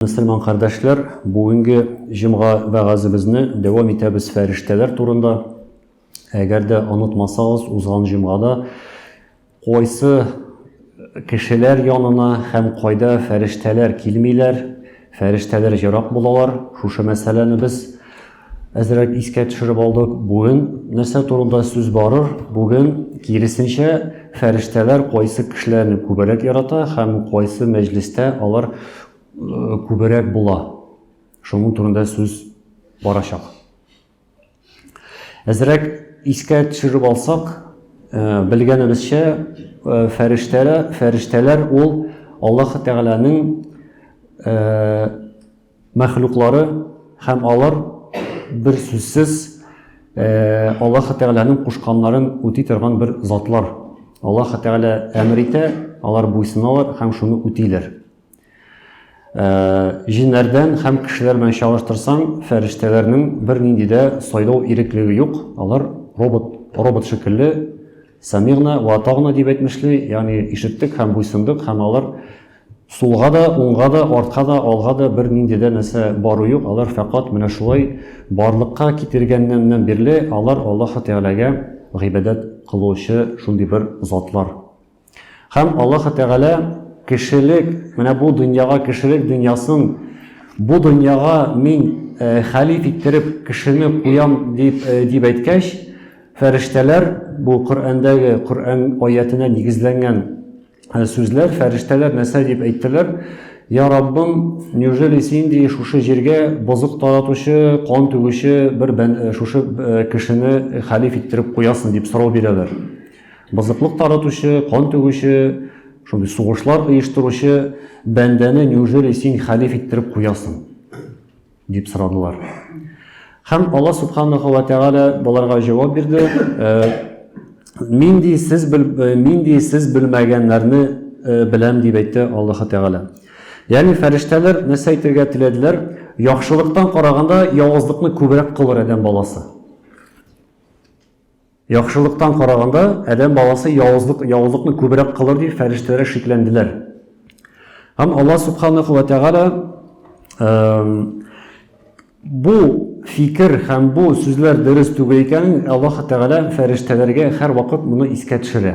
Мөселман кардәшләр, бүгенге җомга вәгазебезне дәвам итәбез фәрештәләр турында. Әгәр дә онытмасагыз, узган җомгада кайсы кешеләр янына һәм кайда фәрештәләр килмиләр, фәрештәләр ерак булалар, шушы мәсьәләне без Әзрәк искә төшереп алдык. Бүген нәрсә турында сүз барыр? Бүген, киресенчә, фәрештәләр кайсы кешеләрне күбрәк ярата һәм кайсы мәҗлестә алар күбрәк була. Шуның турында сүз барачак. Әзрәк искә төшереп алсак, э, белгәнебезчә, э, фәрештәләр, фәрештәләр ул Аллаһ Тәгаләнең э, мәхлуклары һәм алар, берсүзсез, Аллаһы Тәгаләнең кушканнарын үти торган бер затлар. Аллаһы Тәгалә әмер итә, алар буйсыналар һәм шуны үтиләр. Җиннәрдән һәм кешеләр белән чагыштырсаң, фәрештәләрнең бернинди дә сайлау иреклеге юк, алар робот, робот шикелле, самигна ва атагна дип әйтмешли, ягъни ишеттек һәм буйсындык, һәм алар Сулга да, уңга да, артка да, алга да бер нинди дә нәрсә бару юк, алар фәкать менә шулай барлыкка китергәннәннән бирле алар Аллаһы Тәгаләгә гыйбадәт кылучы шундый бер затлар. Һәм Аллаһы Тәгалә кешелек, менә бу дөньяга кешелек дөньясын, бу дөньяга мин хәлиф иттереп кешене куям дип дип әйткәч, фәрештәләр бу Коръәндәге, Коръән аятенә нигезләнгән Ә сүзләр, фәрештәләр нәрсә дип әйттеләр? Я Раббым, неужели син ди шушы җиргә бозык таратучы, кан түгүче бер э, шушы э, кешене хәлиф иттереп куясың дип сорау бирәләр. Бозыклык таратучы, кан түгүче, шундый сугышлар оештыручы бәндәне неужели син хәлиф иттереп куясың? дип сорадылар. Һәм Алла Субханаху ва Тәгалә боларга җавап бирде, нинди сез бел, э, нинди сез белмәгәннәрне э, беләм дип әйтте Аллаһ Тәгалә. Ягъни фәрештәләр нәрсә әйтергә теләделәр? Яхшылыктан караганда явызлыкны күбрәк кылыр адәм баласы. Яхшылыктан караганда, адәм баласы явызлык, явызлыкны күбрәк кылыр дип фәрештәләр шикләнделәр. Һәм Аллаһ Субханаху ва Тәгалә бу фикер һәм бу сүзләр дөрес түгел икәнен Аллаһ Тәгалә фәрештәләргә һәрвакыт моны искә төшерә.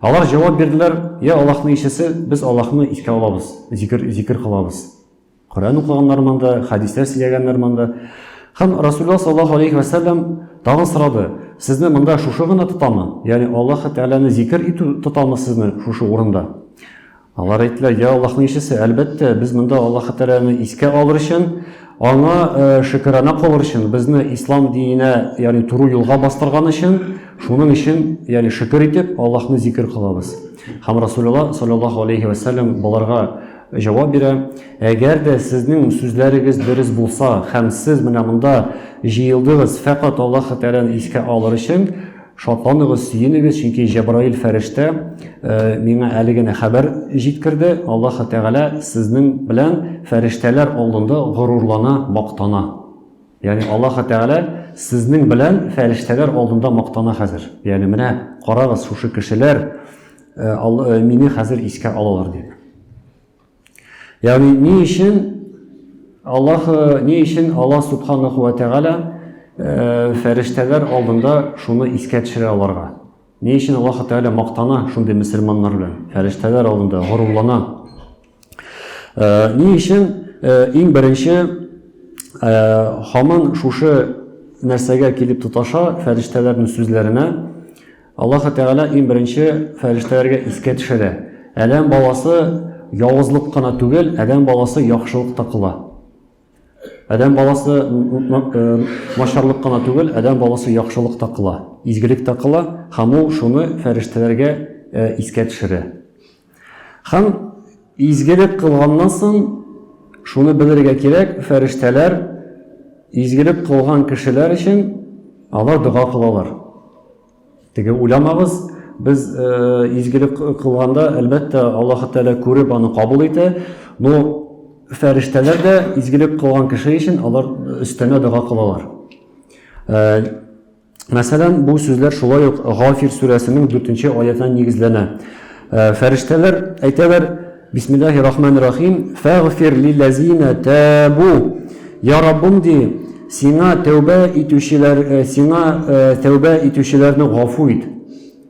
Алар җавап бирделәр, Йә Аллаһның илчесе, без Аллаһны искә алабыз, зикер, зикер кылабыз. Коръән укыганнар монда, хәдисләр сөйләгәннәр монда. Һәм Расулла саллаллаһу алейхи ва сәлләм тагын сорады, сезне монда шушы гына тотамы? Ягъни Аллаһ Тәгаләне зикер итү тотамы сезне шушы урында? Алар әйттеләр, я Аллаһның илчесе, әлбәттә, без монда Аллаһы Тәгаләне искә алыр өчен, аңа э, шөкерана кылыр өчен, безне ислам диненә, ягъни туры юлга бастырган өчен, шуның өчен, ягъни шөкер итеп, Аллаһны зикер кылабыз. Һәм Расулулла саллаллаһу алейхи ва саллям боларга җавап бирә, әгәр дә сезнең сүзләрегез дөрес булса һәм сез менә монда җыелдыгыз фәкать Аллаһы Тәгаләне искә алыр өчен, Шатланыгыз, сөенегез, чөнки Җәбраил фәрештә миңа әле генә хәбәр җиткерде, Аллаһы Тәгалә сезнең белән фәрештәләр алдында горурлана, мактана. Ягъни Аллаһы Тәгалә сезнең белән фәрештәләр алдында мактана хәзер. Ягъни менә карагыз, шушы кешеләр мине хәзер искә алалар диде. Ягъни ни өчен Аллаһ ни өчен Аллаһ субханаху ва тәгалә э, фәрештәләр алдында шуны искә төшерә аларга? Ни өчен Аллаһ тәгалә мактана шундый мөселманнар белән? Фәрештәләр алдында горурлана. Э, ни өчен э, иң беренче хаман шушы нәрсәгә килеп тоташа фәрештәләрнең сүзләренә Аллаһы Тәгалә иң беренче фәрештәләргә искә төшерә. Адәм баласы явызлык кына түгел, адәм баласы яхшылык та кыла. Адәм баласы начарлык кына түгел, адәм баласы яхшылык та кыла, изгелек тә кыла, һәм ул шуны фәрештәләргә искә төшерә. Һәм изгелек кылганнан соң, шуны белергә кирәк, фәрештәләр изгелек кылган кешеләр өчен алар дога кылалар. Теге уйламагыз, без э, изгелек кылганда, әлбәттә, Аллаһ Тәгалә күреп аны кабул итә, но фәрештәләр дә изгелек кылган кеше өчен алар өстәмә дога кылалар. Э, Мәсәлән, бу сүзләр шулай ук Гафир сүрәсенең дүртенче аятына нигезләнә. Ә, фәрештәләр әйтәләр, Бисмиллаһи рахмани рахим, фәгъфир лиләзина табу. Я Раббым, ди, Сиңа тәүбә итүчеләр, э, Сиңа, э, тәүбә итүчеләрне гафу ит.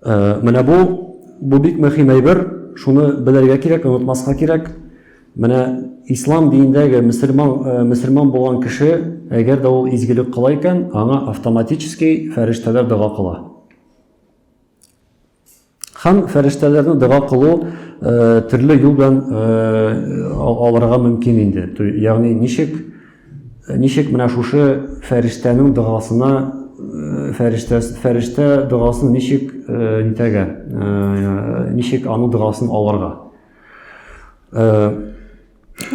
Э, менә бу бу бик мөһим әйбер, шуны белергә кирәк, онытмаска кирәк. Менә ислам динендәге мөселман э, мөселман булган кеше, әгәр дә ул изгелек кыла икән, аңа автоматически фәрештәләр дога кыла. Һәм фәрештәләрне дога кылу төрле юл белән алырга мөмкин инде. Ягъни ничек ничек менә шушы фәрештәнең догасына фәрештә фәрештә догасын ничек нитәгә ничек аның догасын алырга?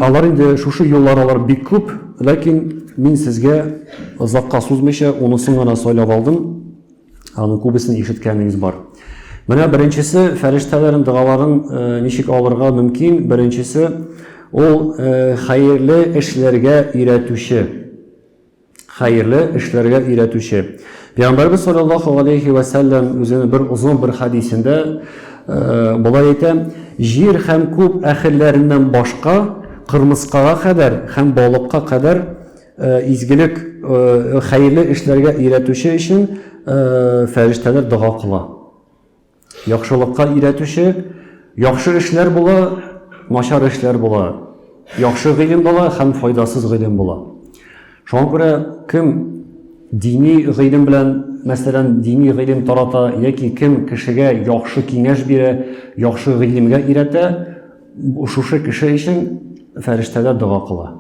Алар инде шушы юллар алар бик күп, ләкин мин сезгә озакка сузмыйча унысын гына сайлап алдым. Аның күбесен ишеткәнегез бар. Менә беренчесе фәрештәләрнең догаларын э, ничек алырга мөмкин? Беренчесе ул э, хәерле эшләргә өйрәтүче. Хәерле эшләргә өйрәтүче. Пәйгамбәрбез саллаллаһу галәйһи вә сәлләм үзенең бер озын бер хәдисендә болай әйтә, Җир һәм күк әһелләреннән башка, кырмыскага кадәр һәм балыкка кадәр изгелек, хәерле эшләргә өйрәтүче өчен фәрештәләр дога кыла. Яхшылыкка өйрәтүче, яхшы эшләр була, начар эшләр була, яхшы гыйлем була һәм файдасыз гыйлем була. Шуңа күрә кем дини гыйлем белән, мәсәлән, дини гыйлем тарата яки кем кешегә яхшы киңәш бирә, яхшы гыйлемгә өйрәтә, шушы кеше өчен фәрештәләр дога кыла.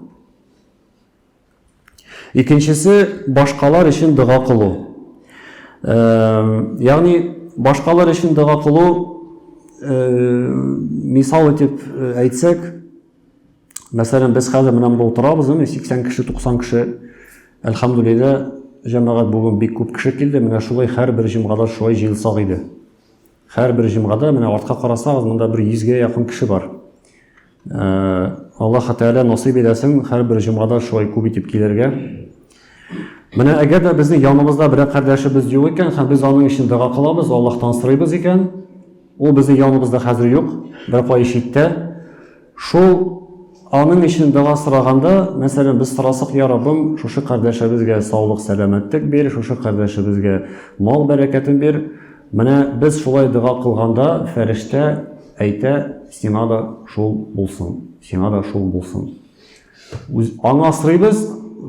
Икенчесе, башкалар өчен дога кылу. Ягъни, башкалар өчен дога кылу, мисал итеп әйтсәк, мәсәлән, без хәзер менә монда утырабыз, 80 кеше, 90 кеше, әлхәмдүлилләһ, җәмәгать бүген бик күп кеше килде, менә шулай һәрбер җомгада шулай җыелсак иде. Һәрбер җомгада менә артка карасагыз, монда бер 100 гә якын кеше бар. Аллаһ Тәгалә насыйп итәсен һәрбер җомгада шулай күп итеп килергә. Менә әгәр дә безнең янымызда берәр кардәшебез юк икән һәм без аның өчен дога кылабыз, Аллаһтан сорыйбыз икән, ул безнең яныбызда хәзер юк, бер кай читтә. Шул аның өчен дога сораганда, мәсәлән, без сорасак, я Раббым, шушы кардәшебезгә саулык, сәламәтлек бир, шушы кардәшебезгә мал бәрәкәтен бир, Менә без шулай дога кылганда, фәрештә әйтә, Сиңа да шул булсын, сиңа да шул булсын. Үз, аңа сорыйбыз,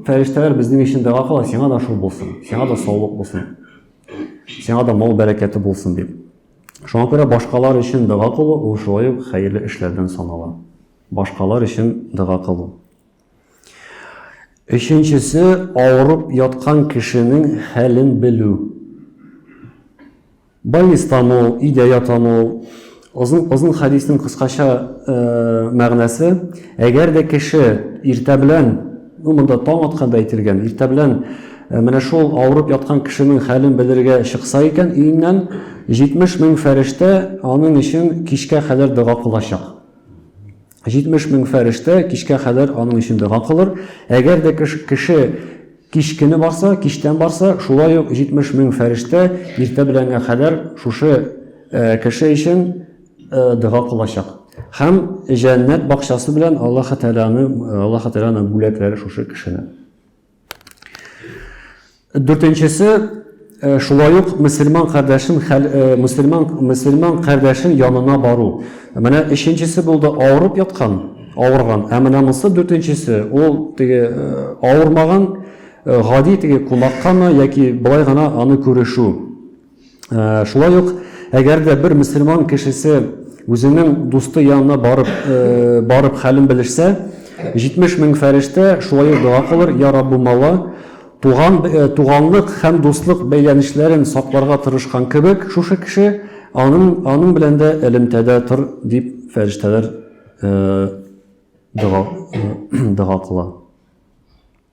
фәрештәләр безнең өчен дога кыла, Сиңа да шул булсын, сиңа да саулык булсын, сиңа да мал бәрәкәте булсын дип. Шуңа күрә башкалар өчен дога кылу ул шулай ук хәерле эшләрдән санала. Башкалар өчен дога кылу. Өченчесе, авырып яткан кешенең хәлен белү. Больнистамы ул, өйдә ятамы ул? Озын, озын хәдиснең кыскача мәгънәсе, әгәр дә кеше иртә белән, ну, монда таң атканда әйтелгән, иртә белән менә шул авырып яткан кешенең хәлен белергә чыкса икән өеннән, 70 мең фәрештә аның өчен кичкә кадәр дога кылачак. 70 мең фәрештә кичкә кадәр аның өчен дога кылыр. Әгәр дә кеше кич көне барса, кичтән барса, шулай ук 70 мең фәрештә иртә беләнгә кадәр шушы кеше өчен дога кылачак. Һәм җәннәт бакчасы белән Аллаһы Тәгаләне, Аллаһы Тәгаләнең бүләкләре шушы кешене. Дүртенчесе, э, шулай ук мөселман кардәшен э, мөселман мөселман кардәшен янына бару. Менә өченчесе булды авырып яткан, авырган. Ә менә монысы дүртенчесе, ул теге э, авырмаган гади теге кунаккамы яки былай гына аны күрешу. Шулай ук, әгәр дә бер мөселман кешесе үзенең дусты янына барып, барып хәлен белешсә, 70 мең фәрештә шулай ук дога кылыр, я Раббу мала, туган, туганлык һәм дуслык бәйләнешләрен сакларга тырышкан кебек, шушы кеше аның, аның белән дә элемтәдә тор, дип фәрештәләр дога, дога кыла.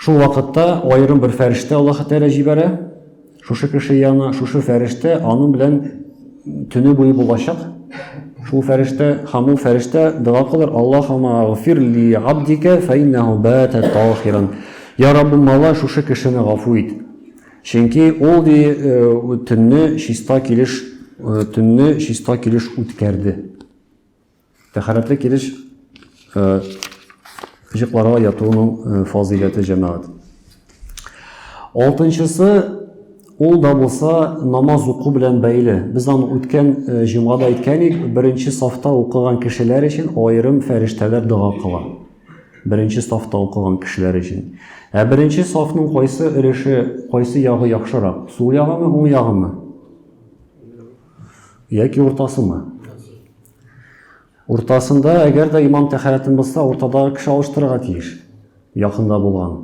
Шул вакытта аерым бер фәрештә Аллаһы Тәгалә җибәрә, шушы кеше янына, шушы фәрештә аның белән төне буе булачак. Шул фәрештә, һәм ул фәрештә дога кылыр, Аллаһума гфир ли абдика фәиннаху бата таһиран. Я Раббым, Алла шушы кешене гафу ит. Чөнки ул ди э, төнне чиста килеш э, төнне чиста килеш үткәрде. Тәхәрәтле килеш җыкларга ятуның фазыйләте җәмәгать. Алтынчысы ул да булса намаз уку белән бәйле. Без аны үткән җомгада әйткән идек, беренче сафта укыган кешеләр өчен аерым фәрештәләр дога кыла. Беренче сафта укыган кешеләр өчен. Ә беренче сафның кайсы өлеше, кайсы ягы яхшырак? Сул ягымы, уң ягымы? Яки уртасымы? Уртасында, әгәр дә имам тәхәрәтен бозса, уртада кеше алыштырырга тиеш, якында булган.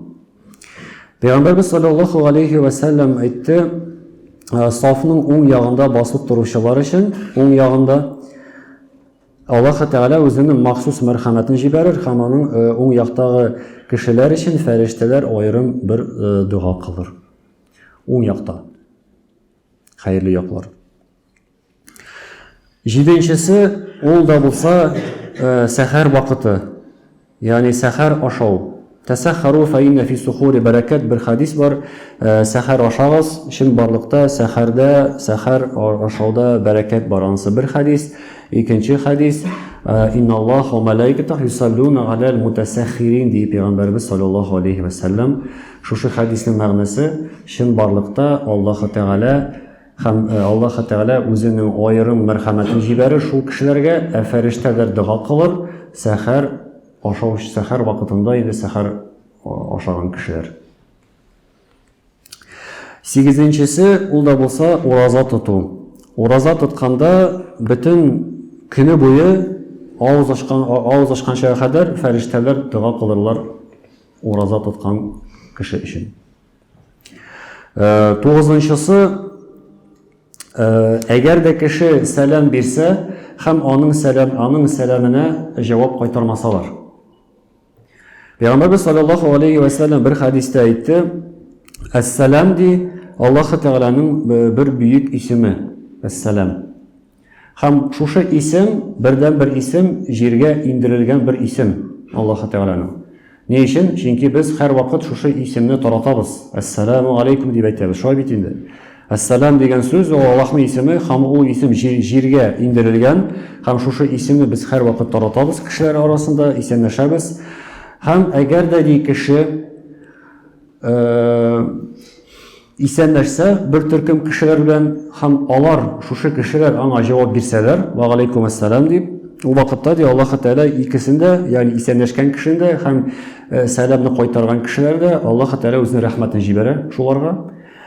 Пәйгамбәрбез саллаллаху алейхи вә сәлләм әйтте, «Ә, сафның уң ягында басып торучылар өчен, уң ягында Аллаһ Тәгалә үзенең махсус мәрхәмәтен җибәрер һәм аның ә, уң яктагы кешеләр өчен фәрештәләр аерым бер ә, дога кылыр. Уң якта. Хәерле яклар. Җиденчесе, ул да булса, сәхәр вакыты, ягъни сәхәр ашау. Тәсәххәрү фә иннә фи сухури бәрәкәт, бер хәдис бар, сәхәр ашагыз, чынбарлыкта сәхәрдә, сәхәр ашауда бәрәкәт бар, анысы бер хәдис. Икенче хәдис, инналлаһа ва мәләикәтәһү юсаллүнә галәл мутәсәххирин, ди Пәйгамбәребез салләллаһу алейһи вә сәлләм. Шушы хәдиснең мәгънәсе, чынбарлыкта Аллаһы Тәгалә, Һәм Аллаһы Тәгалә үзенең аерым мәрхәмәтен җибәрер шул кешеләргә, ә фәрештәләр дога кылыр, сәхәр ашауч сәхәр вакытында инде сәхәр ашаган кешеләр. Сигезенчесе, ул да булса ураза тоту. Ураза тотканда бөтен көне буе авыз ачкан авыз ачканча кадәр фәрештәләр дога кылырлар ураза тоткан кеше өчен. Э, тугызынчысы э, әгәр дә кеше сәлам бирсә һәм аның сәлам аның сәламенә җавап кайтармасалар пәйгамбәрбез саллаллаху алейхи вәсәләм бер хәдистә әйтте әссәлам ди аллаһы тәгаләнең э, бер бөек исеме әссәлам Һәм шушы исем, бердәнбер исем, җиргә иңдерелгән бер исем, Аллаһы Тәгаләнең. Ни өчен? Чөнки без һәрвакыт шушы исемне таратабыз, Әссәләмү галәйкүм дип әйтәбез, шулай бит инде. Әссәләм дигән сүз, ул Аллаһның исеме, һәм ул исем җиргә иңдерелгән, һәм шушы исемне без һәрвакыт таратабыз кешеләр арасында, исәнләшәбез. Һәм әгәр дә ни кеше, Исән нәрсә, бер төркем кешеләр белән һәм алар, шушы кешеләр аңа җавап бирсәләр, вәгаләйкүм әссәлам дип, ул вакытта, ди, Аллаһы Тәгалә икесен дә, ягъни исәнләшкән кешене дә һәм сәламне кайтарган кешеләрне дә, Аллаһы Тәгалә үзенең рәхмәтен җибәрә шуларга.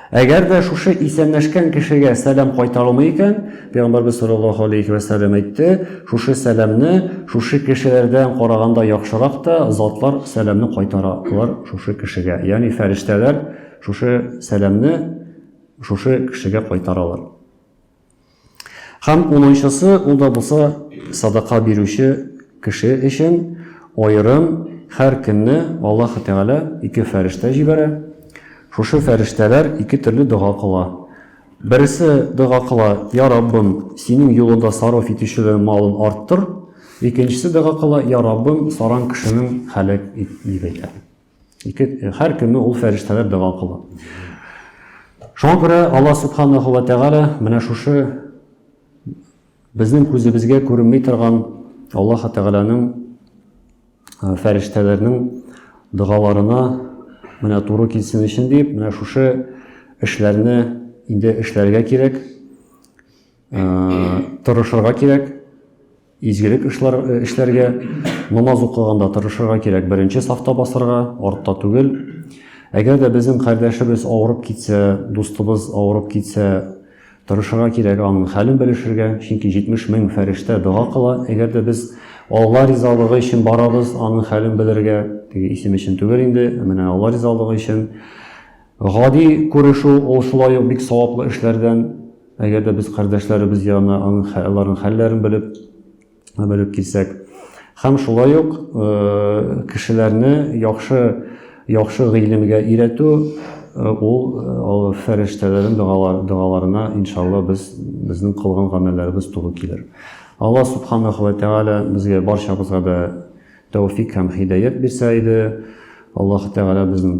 Әгәр дә шушы исәнләшкән кешегә сәлам кайтарылмый икән, пәйгамбәрбез салләллаһу алейһи вә сәлләм әйтте, шушы сәламне шушы кешеләрдән караганда яхшырак та затлар сәламне кайтаралар шушы кешегә, ягъни фәрештәләр, Шушы сәламне шушы кешегә кайтаралар. Һәм унынчысы, ул да булса садака бирүче кеше өчен аерым һәр көнне Аллаһ Тәгалә ике фәрештә җибәрә. Шушы фәрештәләр ике төрле дога кыла. Бересе дога кыла, Я Раббым, синең юлында сарыф итүчеләрнең малын арттыр. Икенчесе дога кыла, Я Раббым, саран кешенең һәлак ит, дип әйтә. Ике, һәр көнне ул фәрештәләр дәва кыла. Шуңа күрә Алла Субханаһу ва Тәгалә менә шушы безнең күзебезгә күренми торган Аллаһ Тәгаләнең э, фәрештәләрнең догаларына менә туры килсен өчен дип, менә шушы эшләрне инде эшләргә кирәк, э, тырышырга кирәк. Изгелек эшләр эшләргә, намаз укыганда тырышырга кирәк, беренче сафта басырга, артта түгел. Әгәр дә безнең кардәшебез авырып китсә, дустыбыз авырып китсә, тырышырга кирәк аның хәлен белешергә, чөнки 70 мең фәрештә дога кыла. Әгәр дә без Алла ризалыгы өчен барабыз, аның хәлен белергә, теге исем өчен түгел инде, менә Алла ризалыгы өчен. Гади күрешү ул шулай ук бик саваплы эшләрдән Әгәр дә без кардәшләребез янына аның аларның хәлләрен белеп белеп килсәк, һәм шулай ук кешеләрне яхшы яхшы гыйлемгә өйрәтү, ул ул фәрештәләрнең догалар догаларына иншалла без безнең кылган гамәлләребез туры килер. Алла субханаху ва тааля безгә барчабызга да тәүфик һәм хидәят бирсә иде. Аллаһ тәгалә безнең